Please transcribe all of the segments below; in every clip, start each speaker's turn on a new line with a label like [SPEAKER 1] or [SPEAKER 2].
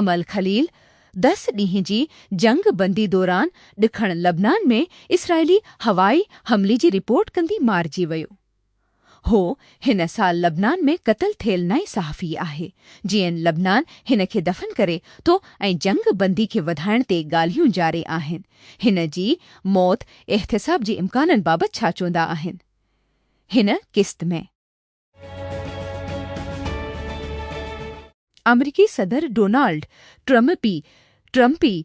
[SPEAKER 1] Amil Khalil دس ڏينهن جي جنگ بندي دوران ڏکڻ لبنان ۾ اسرائيلي هوائي حملي جي رپورٽ ڪندي مارجي ويو. هو هن سال لبنان ۾ قتل ٿيل نئين صحافي آهي. جي اين لبنان هن کي دفن ڪري ٿو ۽ جنگ بندي کي وڌائڻ تي ڳالهيون جاري آهن. هن جي موت احتساب جي امڪانن بابت ڇا چوندا آهن هن قسط ۾. آمريڪي صدر ڊونالڊ ٽرمپي، Trumpy،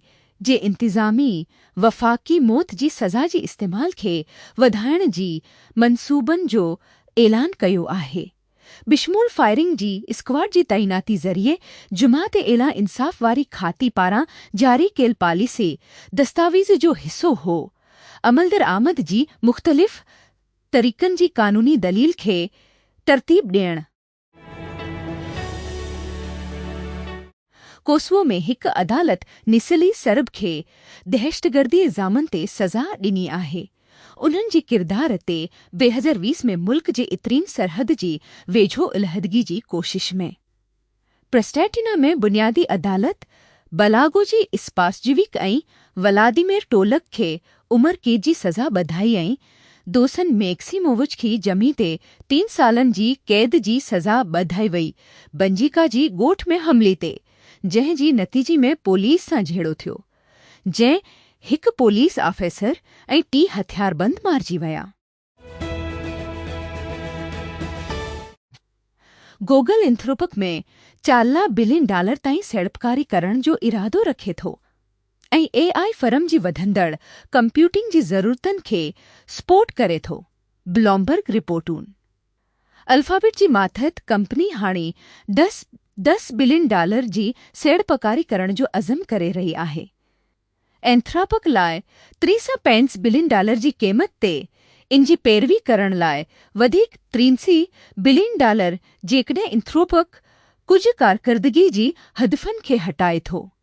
[SPEAKER 1] جي انتظامي وفاقي موت جي سزا جي استعمال کي وڌائڻ جي منصوبن جو اعلان ڪيو آهي. بشمول فائرنگ جي اسڪواڊ جي تعيناتي ذريعي جماعت اعليٰ انصاف واري کاتي پاران جاري ڪيل پاليسي دستاويز جو حصو هو عملدرآمد جي مختلف طريقن جي قانوني دليل کي ترتيب ڏيڻ. ڪوسوو ۾ هڪ عدالت نسلي سرب کي دهشتگردي الزامن تي سزا ڏني آهي. انهن جي ڪردار تي بي هزر ويس ۾ ملڪ جي اترين سرحد جي ويجهو علحدگي جي ڪوشش ۾. پرسٽيٽينا ۾ بنيادي عدالت بلاگوجي اسپاسجويڪ ۽ ولاديمير ٽولڪ کي عمر قيد جي سزا ٻڌائي ۽ دوسن ميڪسيمووچ کي جمعي تي تين سالن جي قيد جي سزا ٻڌائي وئي بنجيڪا جي ڳوٺ ۾ حملي تي، جنهن جي نتيجي ۾ پوليس سان جهيڙو ٿيو، جنهن هڪ پوليس آفيسر ۽ ٽي هٿياربند مارجي ويا. گوگل انٿروپڪ ۾ چارلان بلين ڊالر تائين سيڙپڪاري ڪرڻ جو ارادو رکي ٿو. ۽ اي آء فرم جي وڌندڙ ڪمپيوٽنگ جي ضرورتن کي سپورٽ ڪري ٿو، بلومبرگ رپورٽون. الفابيٽ جي ماتحت ڪمپني هاڻي دس دس بلين ڊالر جي سيڙپڪاري ڪرڻ جو عزم ڪري رهي آهي. اينٿراپڪ لاء تري سان پينس بلين ڊالر جي قيمت تي ان جي پيروي ڪرڻ لاء وڌيڪ ترينسي بلين ڊالر جيڪڏهن اينٿروپڪ ڪجهه ڪارڪردگي جي هدفن کي هٽائي ٿو.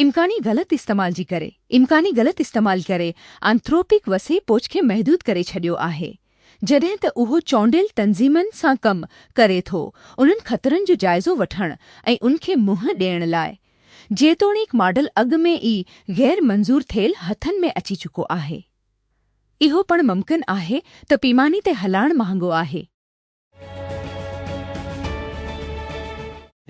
[SPEAKER 1] امڪاني غلط استعمال جي ڪري امڪاني غلط استعمال ڪري آنٿروپڪ وسيع پوچ کي محدود ڪري ڇڏيو آهي جڏهن ته اهو چونڊيل تنظيمن سان ڪم ڪري ٿو انهن خطرن جو جائزو وٺڻ ۽ ان کي منهن ڏيڻ لاء جيتوڻيڪ ماڊل اڳ ۾ ئي غير منظور ٿيل هٿن ۾ اچي چڪو آهي اهو پڻ ممڪن آهي ته پيماني تي هلائڻ مهانگو آهي.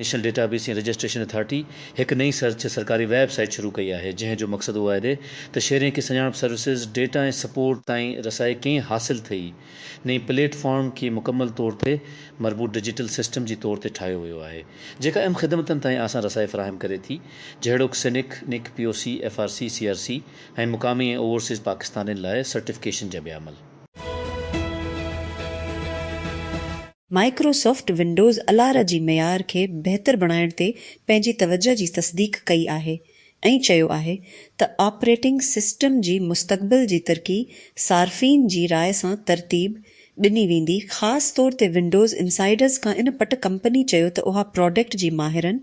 [SPEAKER 2] نيشنل ڊيٽابيس ۽ رجسٽريشن اٿارٽي هڪ نئين سرچ سرڪاري ويب سائيٽ شروع ڪئي آهي، جنهن جو مقصد اهو آهي ته شهرين کي سڃاڻپ سروسز، ڊيٽا ۽ سپورٽ تائين رسائي ڪيئن حاصل ٿئي. نئين پليٽ فارم کي مڪمل طور تي مربوط ڊجيٽل سسٽم جي طور تي ٺاهيو ويو آهي، جيڪا اهم خدمتن تائين آسان رسائي فراهم ڪري ٿي، جهڙوڪ سنڪ، نڪ، P O C, F R C, C R C ۽ مقامي ۽ اوورسيز پاڪستانين لاء سرٽيفڪيشن جا ٻيا عمل.
[SPEAKER 3] مائڪروسافٽ ونڊوز الارا جي معيار کي بهتر بڻائڻ تي پنهنجي توجهه جي تصديق ڪئي آهي ۽ چيو آهي ته آپريٽنگ سسٽم جي مستقبل جي ترقي صارفين جي راء سان ترتيب ڏني ويندي خاص طور تي ونڊوز انسائيڊرز کان ان پٽ ڪمپني چيو ته اها پراڊڪٽ جي ماهرن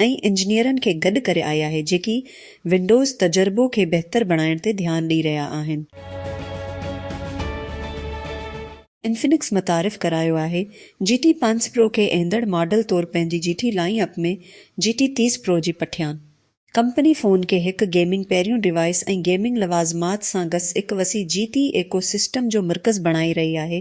[SPEAKER 3] ۽ انجنيئرن کي گڏ ڪري آئي آهي جيڪي ونڊوز تجربو کي بهتر بڻائڻ تي ڌيان ڏئي رهيا آهن. انفنڪس متعارف ڪرايو آهي جي ٽي پنج پرو کي ايندڙ ماڊل طور پنهنجي G T lineup ۾ G T تيس پرو جي پٺيان. ڪمپني فون کي هڪ گيمنگ پهريون ڊوائيس ۽ گيمنگ لوازمات سان گس هڪ وسيع جي ٽي ايڪو سسٽم جو مرڪز بڻائي رهي آهي،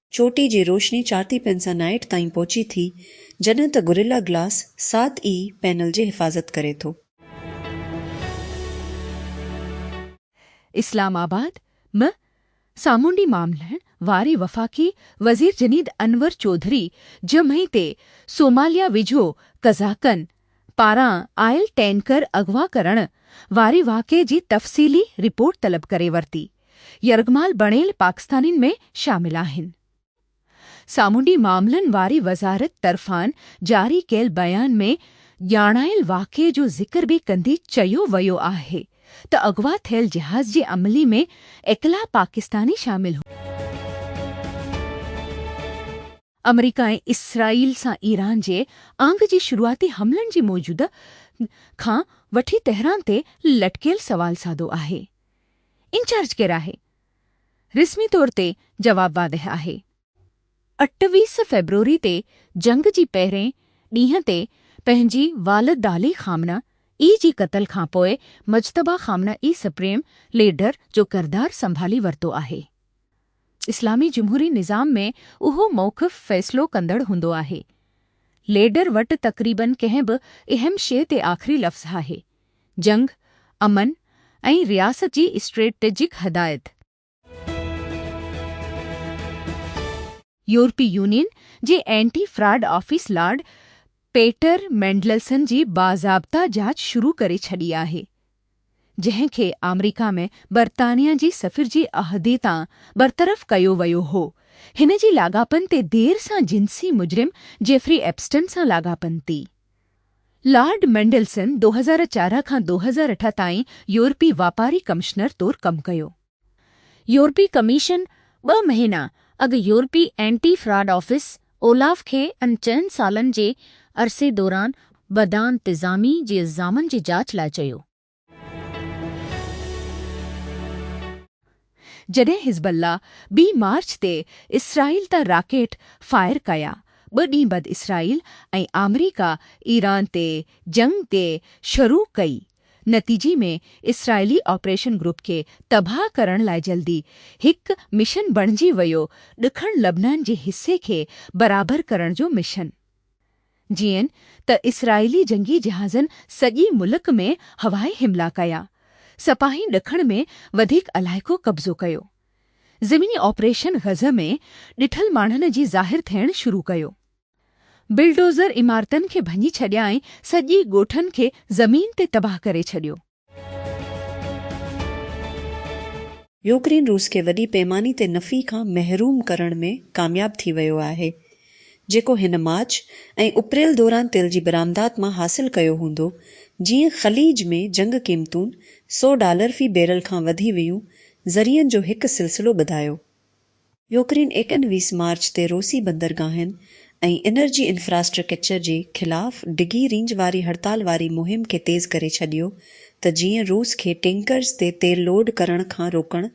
[SPEAKER 3] چوٽي جي روشني چارتي پينسا نائيٽ تائين پهچي ٿي، جڏهن ته گوريلا گلاس سات ئي پينل جي حفاظت ڪري ٿو.
[SPEAKER 1] اسلام آباد، م سامونڊي معاملن واري وفاقي وزير جنيد انور چوڌري جمعي تي صوماليا ويجهو قزاقن، پاران آيل ٽينڪر اغوا ڪرڻ واري واقعي جي تفصيلي رپورٽ طلب ڪري ورتي، يرغمال بڻيل پاڪستانين ۾ شامل آهن. سامونڊي معاملن واري وزارت طرفان جاري ڪيل بيان ۾ ڄاڻايل واقعي جو ذڪر به ڪندي چيو ويو آهي ته اغوا ٿيل جهاز جي عملي ۾ اڪلا پاڪستاني شامل هئا. آمريڪا ۽ اسرائيل سان ايران جي آڱ جي شروعاتي حملن جي موجودگي کان وٺي تهران تي لٽڪيل سوال سادو آهي، انچارج ڪير آهي؟ رسمي طور تي جواب واضح آهي. اٺويهه فيبروري تي جنگ جي پهرين ڏينهن تي پنهنجي والدعلي خامنه اي جي قتل کان پوء Mojtaba Khamenei supreme leader جو ڪردار سنڀالي ورتو آهي. اسلامي جمهوري نظام ۾ اهو موقف فيصلو ڪندڙ هوندو آهي. ليڊر وٽ تقريبن ڪنهن به اهم شيء تي آخري لفظ آهي. جنگ، امن ۽ رياست جي اسٽريٽجڪ هدايت. يورپي يونين جي anti fraud office Lord Peter Mandelson جي باضابطه جاچ شروع ڪري ڇڏي آهي. جنهن کي آمريڪا ۾ برطانيا جي سفير جي عهدي تان برطرف ڪيو ويو هو. هن جي لاڳاپن تي دير سان جنسي مجرم جيفري ايپسٽن سان لاڳاپن تي. لارڊ مينڊلسن ڏو هزار چارهن کان ڏو هزار اٺ تائين يورپي واپاري ڪمشنر طور ڪم ڪيو. يورپي ڪميشن ٻه مهينا اڳ يورپي اينٽي فراڊ آفيس، اولاف، کي ان چئن سالن جي عرصي دوران بدانتظامي جي الزامن جي جاچ لاء چيو. جڏهن حزب الله بي مارچ تي اسرائيل تان راڪيٽ فائر ڪيا، ٻه ڏينهن بعد اسرائيل ۽ آمريڪا ايران تي جنگ تي شروع ڪئي. نتيجي ۾ اسرائيلي آپريشن گروپ کي تباهه ڪرڻ لاء جلدي هڪ مشن بڻجي ويو ڏکڻ لبنان جي حصي کي برابر ڪرڻ جو مشن. جيئن ته اسرائيلي جنگي جهازن سڄي ملڪ ۾ هوائي حملا ڪيا، سپاهين ڏکڻ ۾ وڌيڪ علائقو قبضو ڪيو. زميني آپريشن غزه ۾ ڏٺل ماڻهن جي ظاهر ٿيڻ شروع ڪيو. بلڊوزر عمارتن کي ڀڃي ڇڏيا ۽ سڄي ڳوٺن کي زمين تي تباهه ڪري ڇڏيو.
[SPEAKER 3] يوڪرين روس کي وڏي پيماني تي نفي کان محروم ڪرڻ ۾ ڪامياب ٿي ويو آهي، جيڪو هن مارچ ۽ اپريل دوران تيل جي برآمدات مان حاصل ڪيو هوندو، جيئن خليج ۾ جنگ قيمتون سؤ ڊالر في بيرل کان وڌي ويون، ذريعن جو هڪ سلسلو ٻڌايو. يوڪرين ايڪن ويس مارچ تي روسي بندرگاهن ۽ انرجي انفراسٽرڪچر جي خلاف ڊگهي رينج واري هڙتال واري مهم کي تيز ڪري ڇڏيو ته جيئن روس کي ٽينڪرز تي تيل لوڊ ڪرڻ کان روڪڻ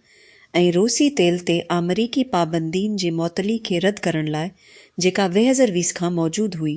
[SPEAKER 3] ۽ روسي تيل تي آمريڪي پابندين جي معطلي کي رد ڪرڻ لاء جيڪا ويهزر ويس کان موجود هئي.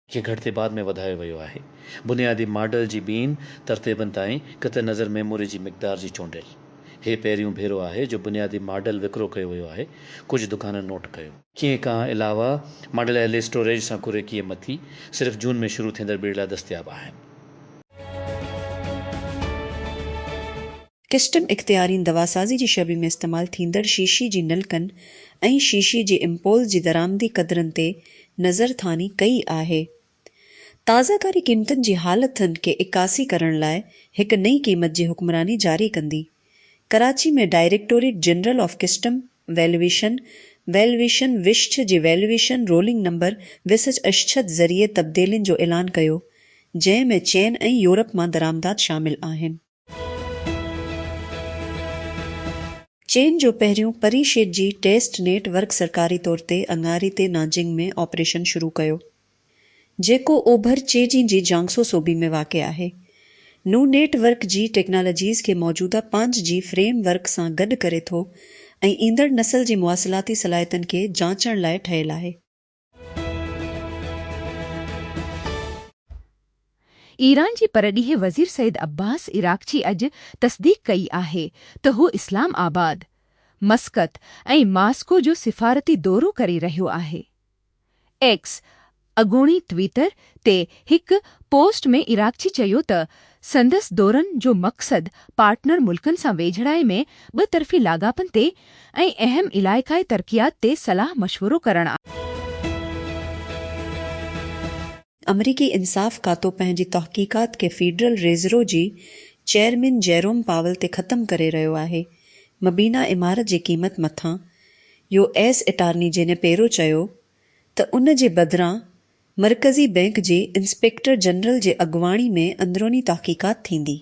[SPEAKER 2] کي گهٽتي بعد ۾ وڌايو ويو آهي بنيادي ماڊل جي ٻين ترتيبن تائين قطع نظر ميموري جي مقدار جي چونڊيل هي پهريون ڀيرو آهي جو بنيادي ماڊل وڪرو ڪيو ويو آهي ڪجهه دڪانن نوٽ ڪيو. کي کان علاوه ماڊل اهل اسٽوريج سان ڪري ڪيئي مٿي صرف جون ۾ شروع ٿيندڙ ٻيڙ لاء دستياب آهن.
[SPEAKER 3] ڪسٽم اختيارين دواسازي جي شعبي ۾ استعمال ٿيندڙ شيشي جي نلڪن ۽ شيشي جي امپولز جي درآمدي قدرن تي نظرثاني ڪئي آهي. تازه ڪاري قيمتن جي حالتن کي عڪاسي ڪرڻ لاء هڪ نئين قيمت جي حڪمراني جاري ڪندي. Karachi ۾ directorate general of custom valuation, Valuation Vishch، جي valuation ruling number Visach Ashchad ذريعي تبديلين جو اعلان ڪيو، جنهن ۾ چين ۽ يورپ مان درآمدات شامل آهن. چين جو پهريون پري شيڊ جي ٽيسٽ نيٽ ورڪ سرڪاري طور تي اڱاري تي نانجنگ ۾ آپريشن شروع ڪيو، جيڪو اوڀر چيجين جي جيانگسو صوبي ۾ واقع آهي. نون نيٽ ورڪ جي ٽيڪنالاجيز کي موجوده پانچ جي فريم ورڪ سان گڏ ڪري ٿو ۽ ايندڙ نسل جي مواصلاتي صلاحيتن کي جانچڻ لاء ٺهيل آهي.
[SPEAKER 1] ايران جي پرڏيهي وزير سيد عباس عراقچي اڄ تصديق ڪئي آهي ته هو اسلام آباد، مسقط ۽ ماسڪو جو سفارتي دورو ڪري رهيو آهي. ايڪس، اڳوڻي ٽوئيٽر، تي هڪ پوسٽ ۾ عراقچي چيو ته سندس دورن جو مقصد پارٽنر ملڪن سان ويجهڙائي ۾ ٻه طرفي لاڳاپن تي ۽ اهم علائقائي ترقيات تي صلاح مشورو ڪرڻ آهي.
[SPEAKER 3] آمريڪي انصاف کاتو پنهنجي تحقيقات کي فيڊرل ريزرو جي چيئرمين جيروم پاول تي ختم ڪري رهيو آهي. مبينا عمارت جي قيمت مٿان يو ايس اٽارني جينيپيرو چيو ته ان جي بدران مرڪزي بئنڪ جي انسپيڪٽر جنرل جي اڳواڻي ۾ اندروني تحقيقات ٿيندي.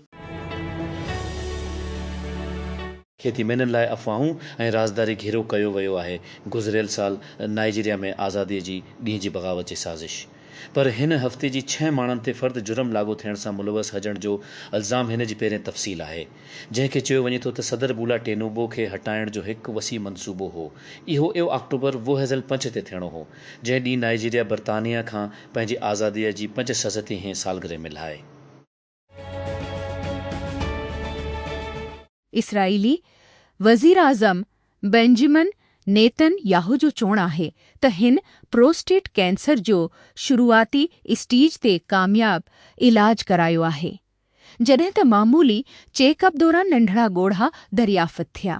[SPEAKER 2] کيتي مينهن لاء افواهون ۽ رازداري گهيرو ڪيو ويو آهي، گذريل سال نائيجيريا ۾ آزادي جي ڏينهن جي بغاوت جي سازش پر هن هفتي جي ڇهه ماڻهن تي فرد جرم لاڳو ٿيڻ سان ملوث هجڻ جو الزام هن جي پهرين تفصيل آهي. جنهن کي چيو وڃي ٿو ته صدر بولا ٽينوبو کي هٽائڻ جو هڪ وسيع منصوبو هو. اهو ايو آڪٽوبر ووهيزل پنچ تي ٿيڻو هو، جنهن ڏينهن نائيجيريا برطانيه کان پنهنجي آزاديء جي پنج سز تي هين سالگرهه ملهائي. اسرائيلي
[SPEAKER 1] وزيراعظم بينجمن نيتن ياهو جو چوڻ آهي ته هن پروسٽيٽ ڪينسر جو شروعاتي اسٽيج تي ڪامياب علاج ڪرايو آهي. جڏهن ته معمولي چيڪ اپ دوران ننڍڙا ڳوڙها دريافت ٿيا.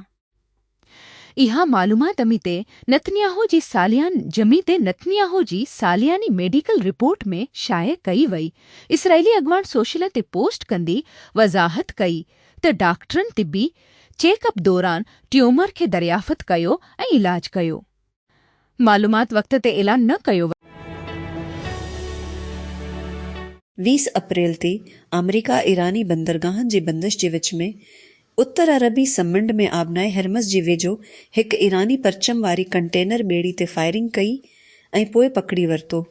[SPEAKER 1] اها معلومات اميتي نتنياهو جي ساليان جميتي نتنياهو جي سالياني ميڊيڪل رپورٽ ۾ شايع ڪئي وئي. اسرائيلي اڳواڻ سوشل تي پوسٽ ڪندي وضاحت ڪئي ته ڊاڪٽرن طبي چيڪ اپ دوران ٽيومر کي دريافت ڪيو ۽ علاج ڪيو. معلومات وقت تي اعلان نه ڪيو ويو.
[SPEAKER 3] ويهه اپريل تي آمريڪا ايراني بندرگاهن جي بندش جي وچ ۾ اتر عربي سمنڊ ۾ آبنائي هرمز جي ويجهو هڪ ايراني پرچم واري ڪنٽينر ٻيڙي تي فائرنگ ڪئي ۽ پوء پڪڙي ورتو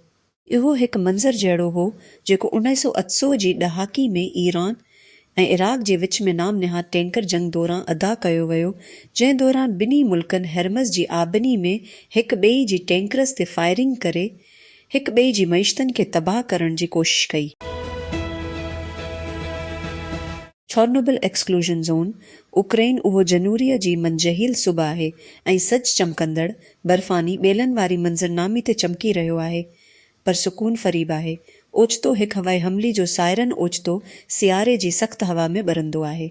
[SPEAKER 3] اهو هڪ منظر جهڙو هو جيڪو انائي سؤ اتسو جي ڏهاڪي ۾ ايران ۽ عراق جي وچ ۾ نام نهاد ٽينڪر جنگ دوران ادا ڪيو ويو جنهن دوران ٻنهي ملڪن هرمز جي آبني ۾ هڪ ٻئي جي ٽينڪرز تي فائرنگ ڪري هڪ ٻئي جي معيشتن کي تباهه ڪرڻ جي ڪوشش ڪئي. ڇورنوبل ايڪسڪلوزن زون، اوڪرائين اهو جنوريء جي منجهيل صبح آهي ۽ سج چمڪندڙ، برفاني ٻيلن واري منظرنامي تي چمڪي رهيو آهي. پر سڪون فريب آهي. اوچتو هڪ هوائي حملي جو سائرن اوچتو سياري جي سخت هوا ۾ ٻرندو آهي.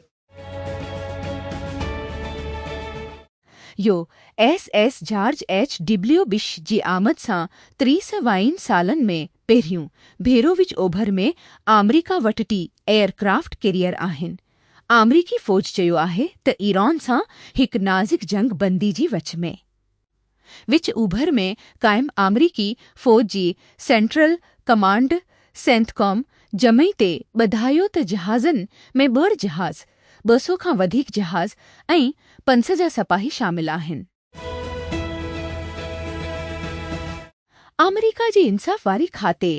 [SPEAKER 1] U S S George H W Bush جي آمد سان تريسوائين سالن ۾ پهريون ڀيرو وچ اوڀر ۾ آمريڪا وٽ ٽي ايئر ڪرافٽ ڪيريئر آهن. آمريڪي فوج چيو آهي ته ايران سان هڪ نازڪ جنگ بندي جي وچ ۾ وچ اوڀر ۾ قائم آمريڪي فوج جي سينٽرل ڪمانڊ سينٿڪام جمعي تي ٻڌايو ته جهازن ۾ ٻه جهاز، ٻه سؤ کان وڌيڪ جهاز ۽ پنسجا سپاهي شامل آهن. آمريڪا جي انصاف واري کاتي،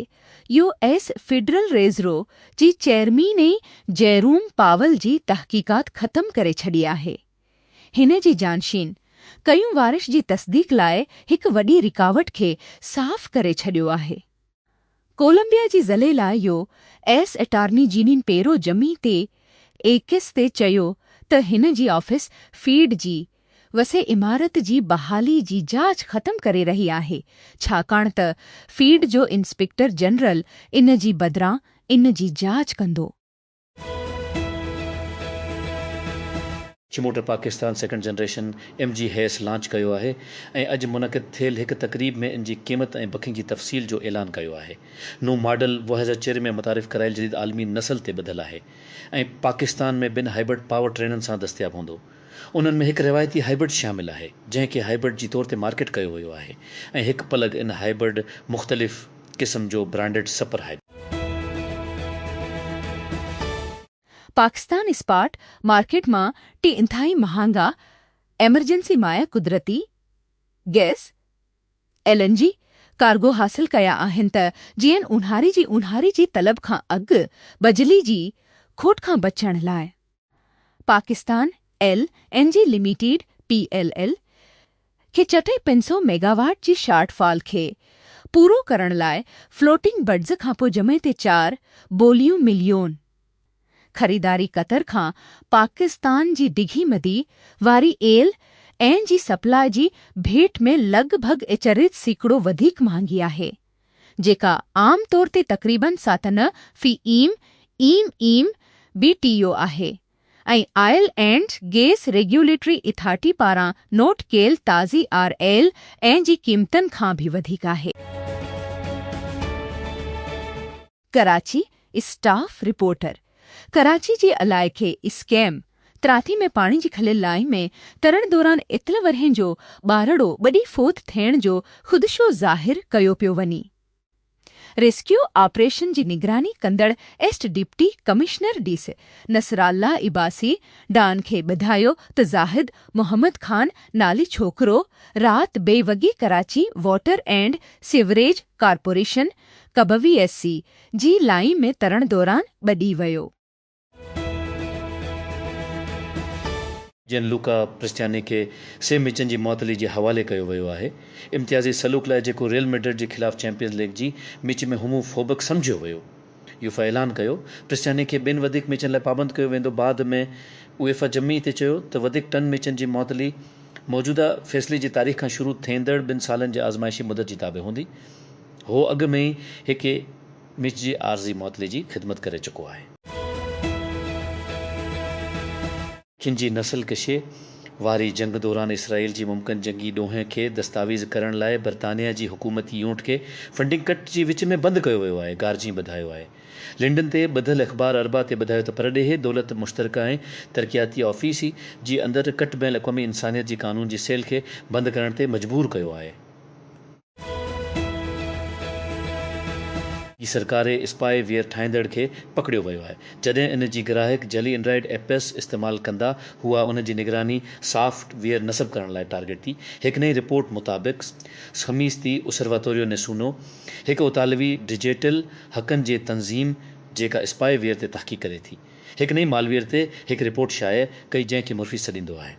[SPEAKER 1] يو ايس فيڊرل ريزرو، جي چيئرمين جيروم پاول جي تحقيقات ختم ڪري ڇڏي آهي. هن جي جانشين ڪيون وارش جي تصديق لاء هڪ وڏي رڪاوٽ کي صاف ڪري ڇڏيو آهي. ڪولمبيا جي ضلعي لاء U S attorney Jeanine Pirro تي ايڪس تي چيو ته هن جي آفيس فيڊ جي وسيع عمارت جي بحالي جي جاچ ختم ڪري رهي آهي ڇاڪاڻ ته فيڊ جو انسپيڪٽر جنرل ان جي بدران ان جي جاچ ڪندو.
[SPEAKER 2] چھ motor Pakistan second generation M G H S launch ڪيو آهي ۽ اڄ منعقد ٿيل هڪ تقريب ۾ ان جي قيمت ۽ بڪنگ جي تفصيل جو اعلان ڪيو آهي نون ماڊل دو هزار چير ۾ متعارف ڪرايل جديد عالمي نسل تي ٻڌل آهي ۽ پاڪستان ۾ ٻن هائبرڊ پاور ٽرينن سان دستياب هوندو انهن ۾ هڪ روايتي هائبرڊ شامل آهي جنهن کي هائبرڊ جي طور تي مارڪيٽ ڪيو ويو آهي ۽ هڪ پلگ ان هائبرڊ مختلف قسم جو برانڊيڊ سپر هائيڊ.
[SPEAKER 1] پاڪستان اسپاٽ مارڪيٽ مان ٽي انتهائي مهانگا ايمرجنسي مائع قدرتي گئس، ايل اين جي، ڪارگو حاصل ڪيا آهن ته جيئن اونهاري جي اونهاري جي طلب کان اڳ بجلي جي کوٽ کان بچڻ لاء. Pakistan L N G limited, P L L, کي چٽي پنج سؤ ميگاواٽ جي شارٽ فال کي پورو ڪرڻ لاء فلوٽنگ بڊز کانپوء جمعي تي چار بوليون مليون خريداري قطر کان پاڪستان جي ڊگهي مدي واري ايل اين جي سپلاء جي ڀيٽ ۾ لڳ ڀڳ اچريت سيڪڙو وڌيڪ مهانگي آهي. جيڪا عام طور تي تقريباً ساتنه في M, M M, B T U آهي ۽ oil and gas regulatory authority پاران نوٽ ڪيل تازي آر ايل اين جي قيمتن کان به وڌيڪ آهي. ڪراچي، اسٽاف رپورٽر، ڪراچي جي علائقي اسڪيم تراتي ۾ پاڻي جي کليل لائين ۾ ترڻ دوران اتل ورهين جو ٻارڙو ٻڏي فوت ٿيڻ جو خدشو ظاهر ڪيو پيو وڃي. ريسڪيو آپريشن جي نگراني ڪندڙ east deputy commissioner D C Nasrullah Abbasi Dawn کي ٻڌايو ته زاهد محمد خان نالي ڇوڪرو رات بي وڳي Karachi water and sewerage corporation ڪبوي ايس سي جي لائين ۾ ترڻ دوران ٻڏي ويو.
[SPEAKER 2] جيئن لوڪا پرستياني کي سي مچن جي معطلي جي حوالي ڪيو ويو آهي. امتيازي سلوڪ لاء جيڪو ريئل ميڊرڊ جي خلاف چيمپيئنز ليگ جي ميچ ۾ هومو فوبڪ سمجهيو ويو. يوفا اعلان ڪيو پرستياني کي ٻين وڌيڪ ميچن لاء پابند ڪيو ويندو بعد ۾ ايوفا جمعي تي چيو ته وڌيڪ ٽن ميچن جي معطلي موجوده فيصلي جي تاريخ کان شروع ٿيندڙ ٻن سالن جي آزمائشي مدت جي تابع هوندي. هو اڳ ۾ ئي هڪ اي مچ جي عارضي معطلي جي خدمت ڪري چڪو آهي. کن جي نسل ڪشي واري جنگ دوران اسرائيل جي ممڪن جنگي ڏوهين کي دستاويز ڪرڻ لاء برطانيا جي حڪومتي يونٽ کي فنڊنگ ڪٽ جي وچ ۾ بند ڪيو ويو آهي، گارجين ٻڌايو آهي. لنڊن تي ٻڌل اخبار اربع تي ٻڌايو ته پرڏيهي دولت مشترڪه ۽ ترقياتي آفيس ئي جي اندر ڪٽ بين الاقوامي انسانيت جي قانون جي سيل کي بند ڪرڻ تي مجبور ڪيو آهي. جي سرڪاري اسپائي ويئر ٺاهيندڙ کي پڪڙيو ويو آهي جڏهن ان جي گراهڪ جعلي اينڊرائيڊ ايپس استعمال ڪندا هئا ان جي نگراني سافٽ ويئر نصب ڪرڻ لاء ٽارگيٽ ٿي هڪ نئين رپورٽ مطابق خميس تي اسرواتوريو نيسونو هڪ اطالوي ڊجيٽل حقن جي تنظيم جيڪا اسپائي ويئر تي تحقيق ڪري ٿي هڪ نئين مالويئر تي هڪ رپورٽ شايع ڪئي جنهن کي مرفي سڏيندو آهي.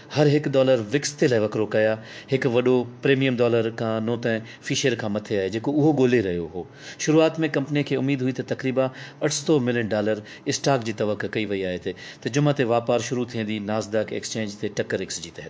[SPEAKER 2] هر هڪ ڊالر وڪس تي لاء وڪرو ڪيا هڪ وڏو پريميم ڊالر کان نو ته في شيئر کان مٿي آهي جيڪو اهو ڳولي رهيو هو شروعات ۾ ڪمپني کي اميد هئي ته تقريبا اٺ سؤ ملين ڊالر اسٽاڪ جي توقع ڪئي وئي آهي ته ته جمعه تي واپار شروع ٿيندي ناسداڪ ايڪسچينج تي ٽڪر ايڪس جي تحت